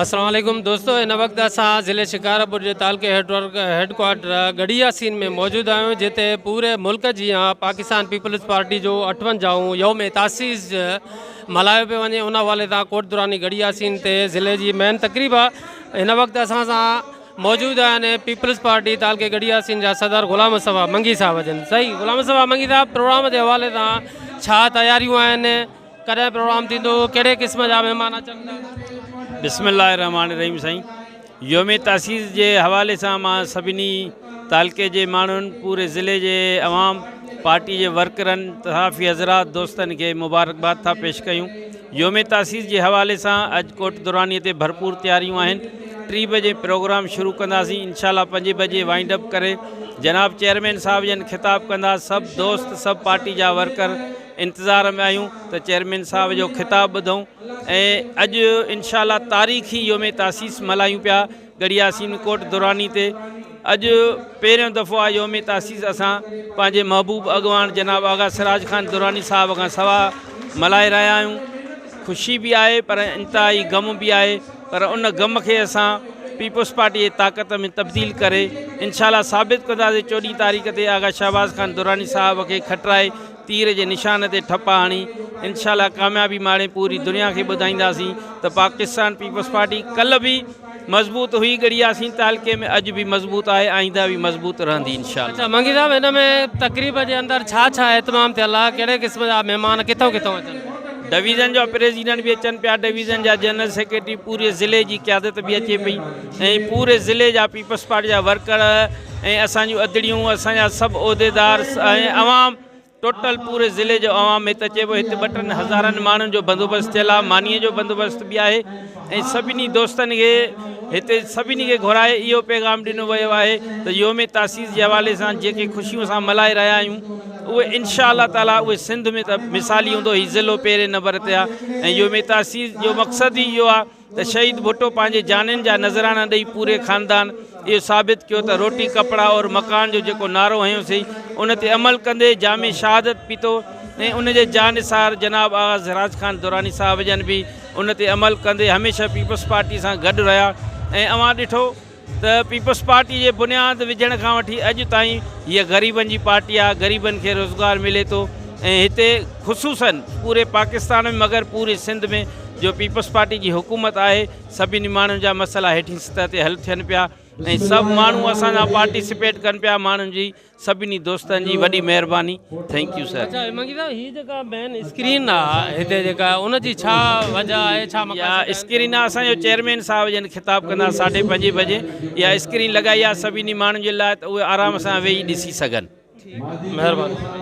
السلام عليڪم دوستو ان وقت اسان ضلع شڪارپور جي تعلقي هيڊ ڪوارٽر گڙي ياسين ۾ موجود آهيون جتي پوري ملڪ جي پاڪستان پيپلز پارٽي جو اٺونجاهون يوم تاسيس ملهايو پيو وڃي ان حوالي سان ڪوٽ دوراني گڙي ياسين تي ضلع جي مين تقريب آهي ان وقت اسان سان موجود آهن پيپلز پارٽي تعلقي گڙي ياسين جا صدر غلام صفا منگي صاحب جن صحيح غلام صفا منگي صاحب پروگرام جي حوالي سان ڇا تياريون آهن ڪڏهن پروگرام ٿيندو ڪهڙي قسم جا مهمان اچن ٿا. بسم الله الرحمٰن الرحيم سائين يوم تاسيس جي حوالي سان مان سڀني تعلقي جي ماڻهن پوري ضلعي جي عوام پارٽي جي ورڪرن صحافي حضرات دوستن کي مبارڪباد ٿا پيش ڪيون يوم تاسيس جي حوالي سان اڄ ڪوٽ دراني تي ڀرپور تياريون آهن ٽي بجي پروگرام شروع ڪنداسين انشاء الله پنج بجي وائنڊ اپ ڪري جناب چيئرمين صاحب جن خطاب ڪندا سڀ دوست سڀ پارٽي جا ورڪر انتظار ۾ آهيون ته چيئرمين صاحب جو خطاب ٻڌون ۽ اڄ انشاء الله تاريخي يوم تاسيس ملهايون پيا ڳڙهيا سين ڪوٽ دراني تي اڄ پهريون دفعو آ يوم تاسيس اسان پنهنجي محبوب اڳواڻ جناب آغا سراج خان دراني صاحب کان سوا ملهائي رهيا آهيون خوشي به آهي پر انتهائي غم به آهي پر ان غم کي اسان پيپلز پارٽي جي طاقت ۾ تبديل ڪري انشاء الله ثابت ڪنداسي چوڏهين تاريخ تي آغا شهباز خان دراني صاحب کي کٽرائي تير جي نشان تي ٺپ هڻي انشاء الله ڪاميابي ماڻي پوري دنيا کي ٻڌائينداسين ته پاڪستان پيپلز پارٽي ڪلهه به مضبوط هئي ڳڙهياسين تعلقي ۾ اڄ به مضبوط آهي آئينده به مضبوط رهندي انشاء الله. اچا منگي صاحب هن ۾ تقريب جي اندر ڇا ڇا اهتمام ٿيل آهي ڪهڙي قسم جا مهمان ڪٿون ڪٿون اچن پيا. ڊويزن جا پريزيڊنٽ به اچن پيا ڊويزن جا جنرل سيڪريٽري پوري ضلعي جي قيادت به اچي پئي. ۽ پوري ضلعي جا پيپلز پارٽي جا ورڪر ۽ اسان جون ادڙيون اسان جا سڀ عهديدار ۽ عوام ٽوٽل پوري ضلعي جو عوام هت اچي پيو هت ٻه ٽن هزارن ماڻهن جو بندوبست ٿيل آهي ماني جو بندوبست به آهي ۽ سڀني دوستن کي هتي سڀني کي گهرائي اهو پيغام ڏنو ويو آهي ته يوم تاسيس جي حوالي سان جيڪي خوشيون اسان ملهائي رهيا آهيون اهي انشاء الله تعالي اهي سنڌ ۾ ته مثالي هوندو هي ضلعو پهرين نمبر تي آهي ۽ يوم تاسيس جو مقصد ئي اهو آهي ته شهيد ڀٽو پنهنجي جانين جا نذرانا ڏئي پوري خاندان اهو ثابت ڪيو ته روٽي ڪپڙا اور مڪان جو جيڪو نعرو هنيو سي ان تي عمل ڪندي جام شهادت پيتو ۽ ان جي جانثار جناب آغا سراج خان دراني صاحب جن به ان تي عمل ڪندي هميشه پيپلز پارٽي سان گڏ رهيا ۽ اوهان ڏٺو ته پيپلز پارٽي جي بنياد وجهڻ کان وٺي اڄ تائين هيء غريبن جي پارٽي آهي، غريبن کي روزگار ملي ٿو ۽ هتي خصوصاً پوري پاڪستان ۾ مگر پوري سنڌ ۾ جو پيپلز پارٽي جي حڪومت آهي سڀني ماڻهن جا مسئلا هيٺين سطح تي حل ٿين پيا ۽ سڀ ماڻهو اسان سان پارٽيسپيٽ ڪن پيا ماڻهن جي سڀني دوستن جي وڏي مهرباني ٿينڪ يو سر. اچا منگي صاحب هي جيڪا مين اسڪرين آ هتي جيڪا ان جي ڇا وجه آهي ڇا مقصد اها آهي. اسڪرين آ اسان جو چيئرمين صاحب جن خطاب ڪندا ساڍي پنجين بجي اها اسڪرين لڳائي آ سڀني ماڻهن جي لاء ته اهي آرام سان ويهي ڏسي سگهن. ٺيڪ مهرباني.